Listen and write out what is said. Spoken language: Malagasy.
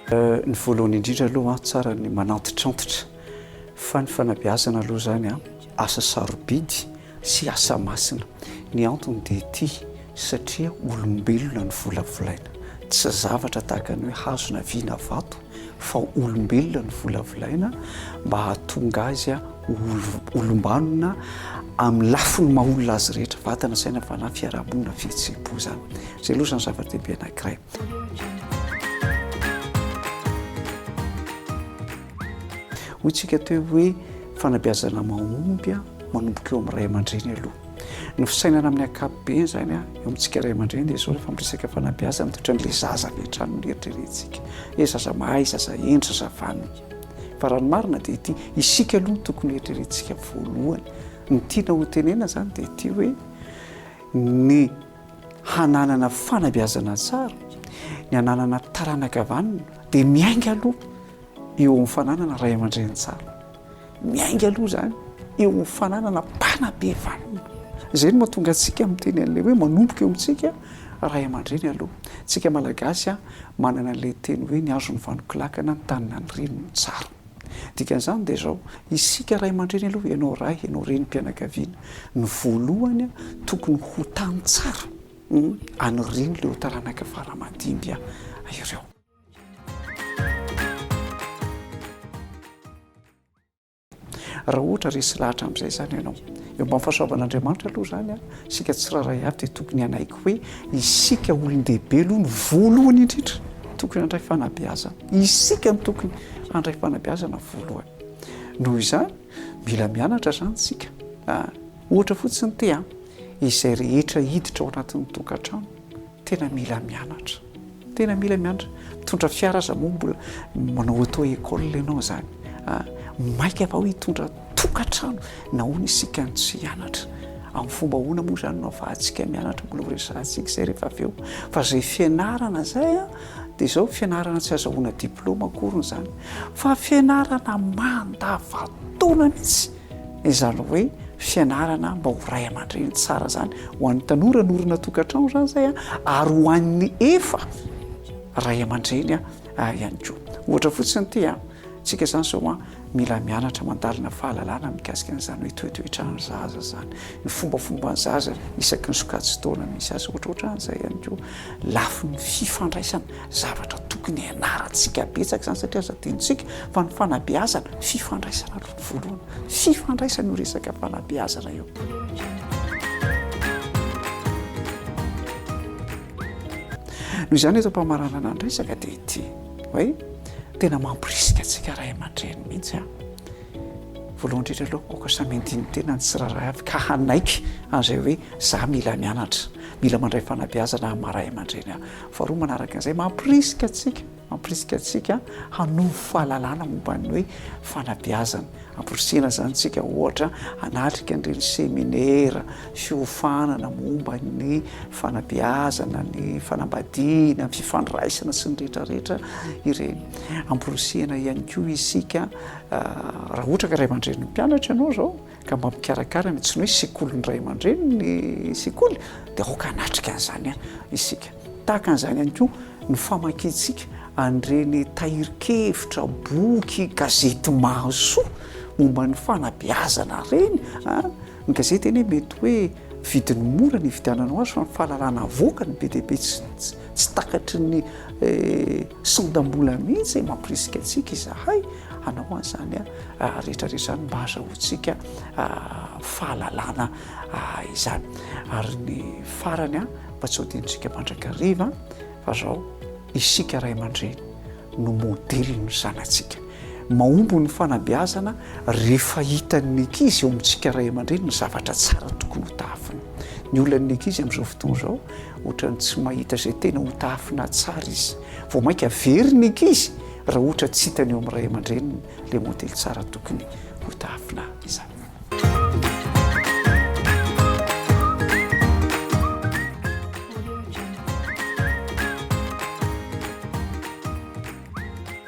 Ny voalohany indrindra aloha an, tsara ny manantitrantitra fa ny fanabeazana aloha izany an, asa sarobidy sy asa masina. Ny antony dia ity, satria olombelona no volavolaina. Tsy zavatra tahaka ny hoe hazo na vy na vato fa olombelona no volavolaina mba hahatonga azy ho olom-banona amin'ny lafiny maha olona azy rehetra, vatana, saina, fanahy, fiarahamonina, fihetseham-po izany. Izay aloha izany zava-dehibe anankiray. Hoy isika teo hoe fanabeazana mahomby manomboka eo amin'ny ray aman-dreny aloha. Ny fisainana amin'ny ankapobeny izany a, eo amintsika ray aman-dreny dia izao rehefa miresaka fanabeazana dia ohatran'ilay zaza avy hatrany no eritreretintsika. Ilay zaza mahay, zaza hendry, zaza vanona. Fa raha ny marina dia ity, isika aloha no tokony eritreretintsika voalohany. Ny tiana hotenenana izany dia ity hoe ny hananana fanabeazana tsara, ny hananana taranaka vanona dia miainga aloha eo amin'ny fananana ray aman-dreny tsara, miainga aloha izany eo amin'ny fananana mpanabe vanona. Izay no mahatonga antsika miteny an'ilay hoe manomboka eo amintsika ray aman-dreny aloha. Isika Malagasy manana an'ilay teny hoe ny hazo no vanonkolakana, ny tany na ny reny no tsara. Dikan'izany dia izao, isika ray aman-dreny aloha, ianao ray, ianao renim-pianakaviana, ny voalohany tokony ho tany tsara an'ireny ireo taranaka fara aman-dimby ireo. raha ohatra resy lahatra amin'izay zany ianao eo mba fahasoavan'andriamanitra aloha zany a isika tsiraray avy dia tokony hanaiky hoe isika olon-dehibe aloha ny voalohany indrindra tokony handray fanabeazana isika ny tokony handray fanabeazana voalohany noho izany mila mianatra zany tsika ah, ohatra fotsiny te a izay rehetra hiditra ao anatin'ny tokantrano Tena mila mianatra. Tena mila mianatra. Mitondra fiara aza moa mbola manao auto école ianao izany. Maika va hitondra tokantrano? Nahoana isika no tsy hianatra? Amin'ny fomba ahoana moa izany no ahafahantsika mianatra? Mbola ho resahantsika izay rehefa avy eo. Fa izay fianarana izay dia izao, fianarana tsy azahoana diplaoma akoriny izany fa fianarana mandava-taona mihitsy. Izany hoe fianarana mba ho ray aman-dreny tsara izany ho an'ny tanora norina tokantrano izany izay ary ho an'ny efa ray aman-dreny ihany koa. Ohatra fotsiny ity antsika izany izao mila mianatra mandalina fahalalana mikasika an'izany hoe toetoetran'ny zaza izany, ny fombafomban'ny zaza isaky ny sokajin-taona misy azy ohatrohatran'izay ihany koa. Lafiny fifandraisana, zavatra tokony hianarantsika betsaka izany satria aza adinontsika fa ny fanabeazana fifandraisana aloha. Voalohany, fifandraisana io resaka fanabeazana io. Noho izany eto am-pamaranana ny resaka dia ity hoe tena mampirisika antsika ray aman-dreny mihitsy a. Voalohany indrindra aloha aoka samy handini tena ny tsirairay avy ka hanaiky an'izay hoe za mila mianatra, mila mandray fanabeazana aho maha ray aman-dreny aho. Faharoa manaraka an'izay mampirisika antsika Mampirisika antsika hanovo fahalalana momba ny hoe fanabeazana. Amporisihina izany isika, ohatra, hanatrika an'ireny seminera fiofanana momba ny fanabeazana, ny fanambadiana, ny fifandraisana sy ny rehetrarehetra ireny. Amporisihina ihany koa isika, raha ohatra ka ray aman-drenin'ny mpianatra ianao izao, ka mba mikarakara ny antsoina hoe sekolin'ny ray aman-dreny ny sekoly dia aoka hanatrika an'izany isika. Tahaka an'izany ihany koa ny famakiantsika an'ireny tahirin-kevitra, boky, gazety mahasoa momba ny fanabeazana ireny a! Ny gazety anie mety hoe vidiny mora ny hividiananao azy fa ny fahalalana avoakany be dia be tsy Tsy takatry ny sandam-bola mihitsy mampirisika antsika izahay hanao an'izany rehetrarehetra izany mba hahazahoantsika fahalalana izany. Ary ny farany, mba tsy hodiantsika mandrakariva fa izao, isika ray aman-dreny no modelin'ny zanatsika. Mahomby ny fanabeazana rehefa hitan'ny ankizy eo amintsika ray aman-dreny ny zavatra tsara tokony ho tafiny. Ny olan'ny ankizy amin'izao fotoana izao ohatran'ny tsy mahita izay tena ho tahafinahy tsara izy, vao mainka very ny ankizy raha ohatra tsy hitany eo amin'ny ray aman-dreniny ilay modely tsara tokony ho tahafinahy izany.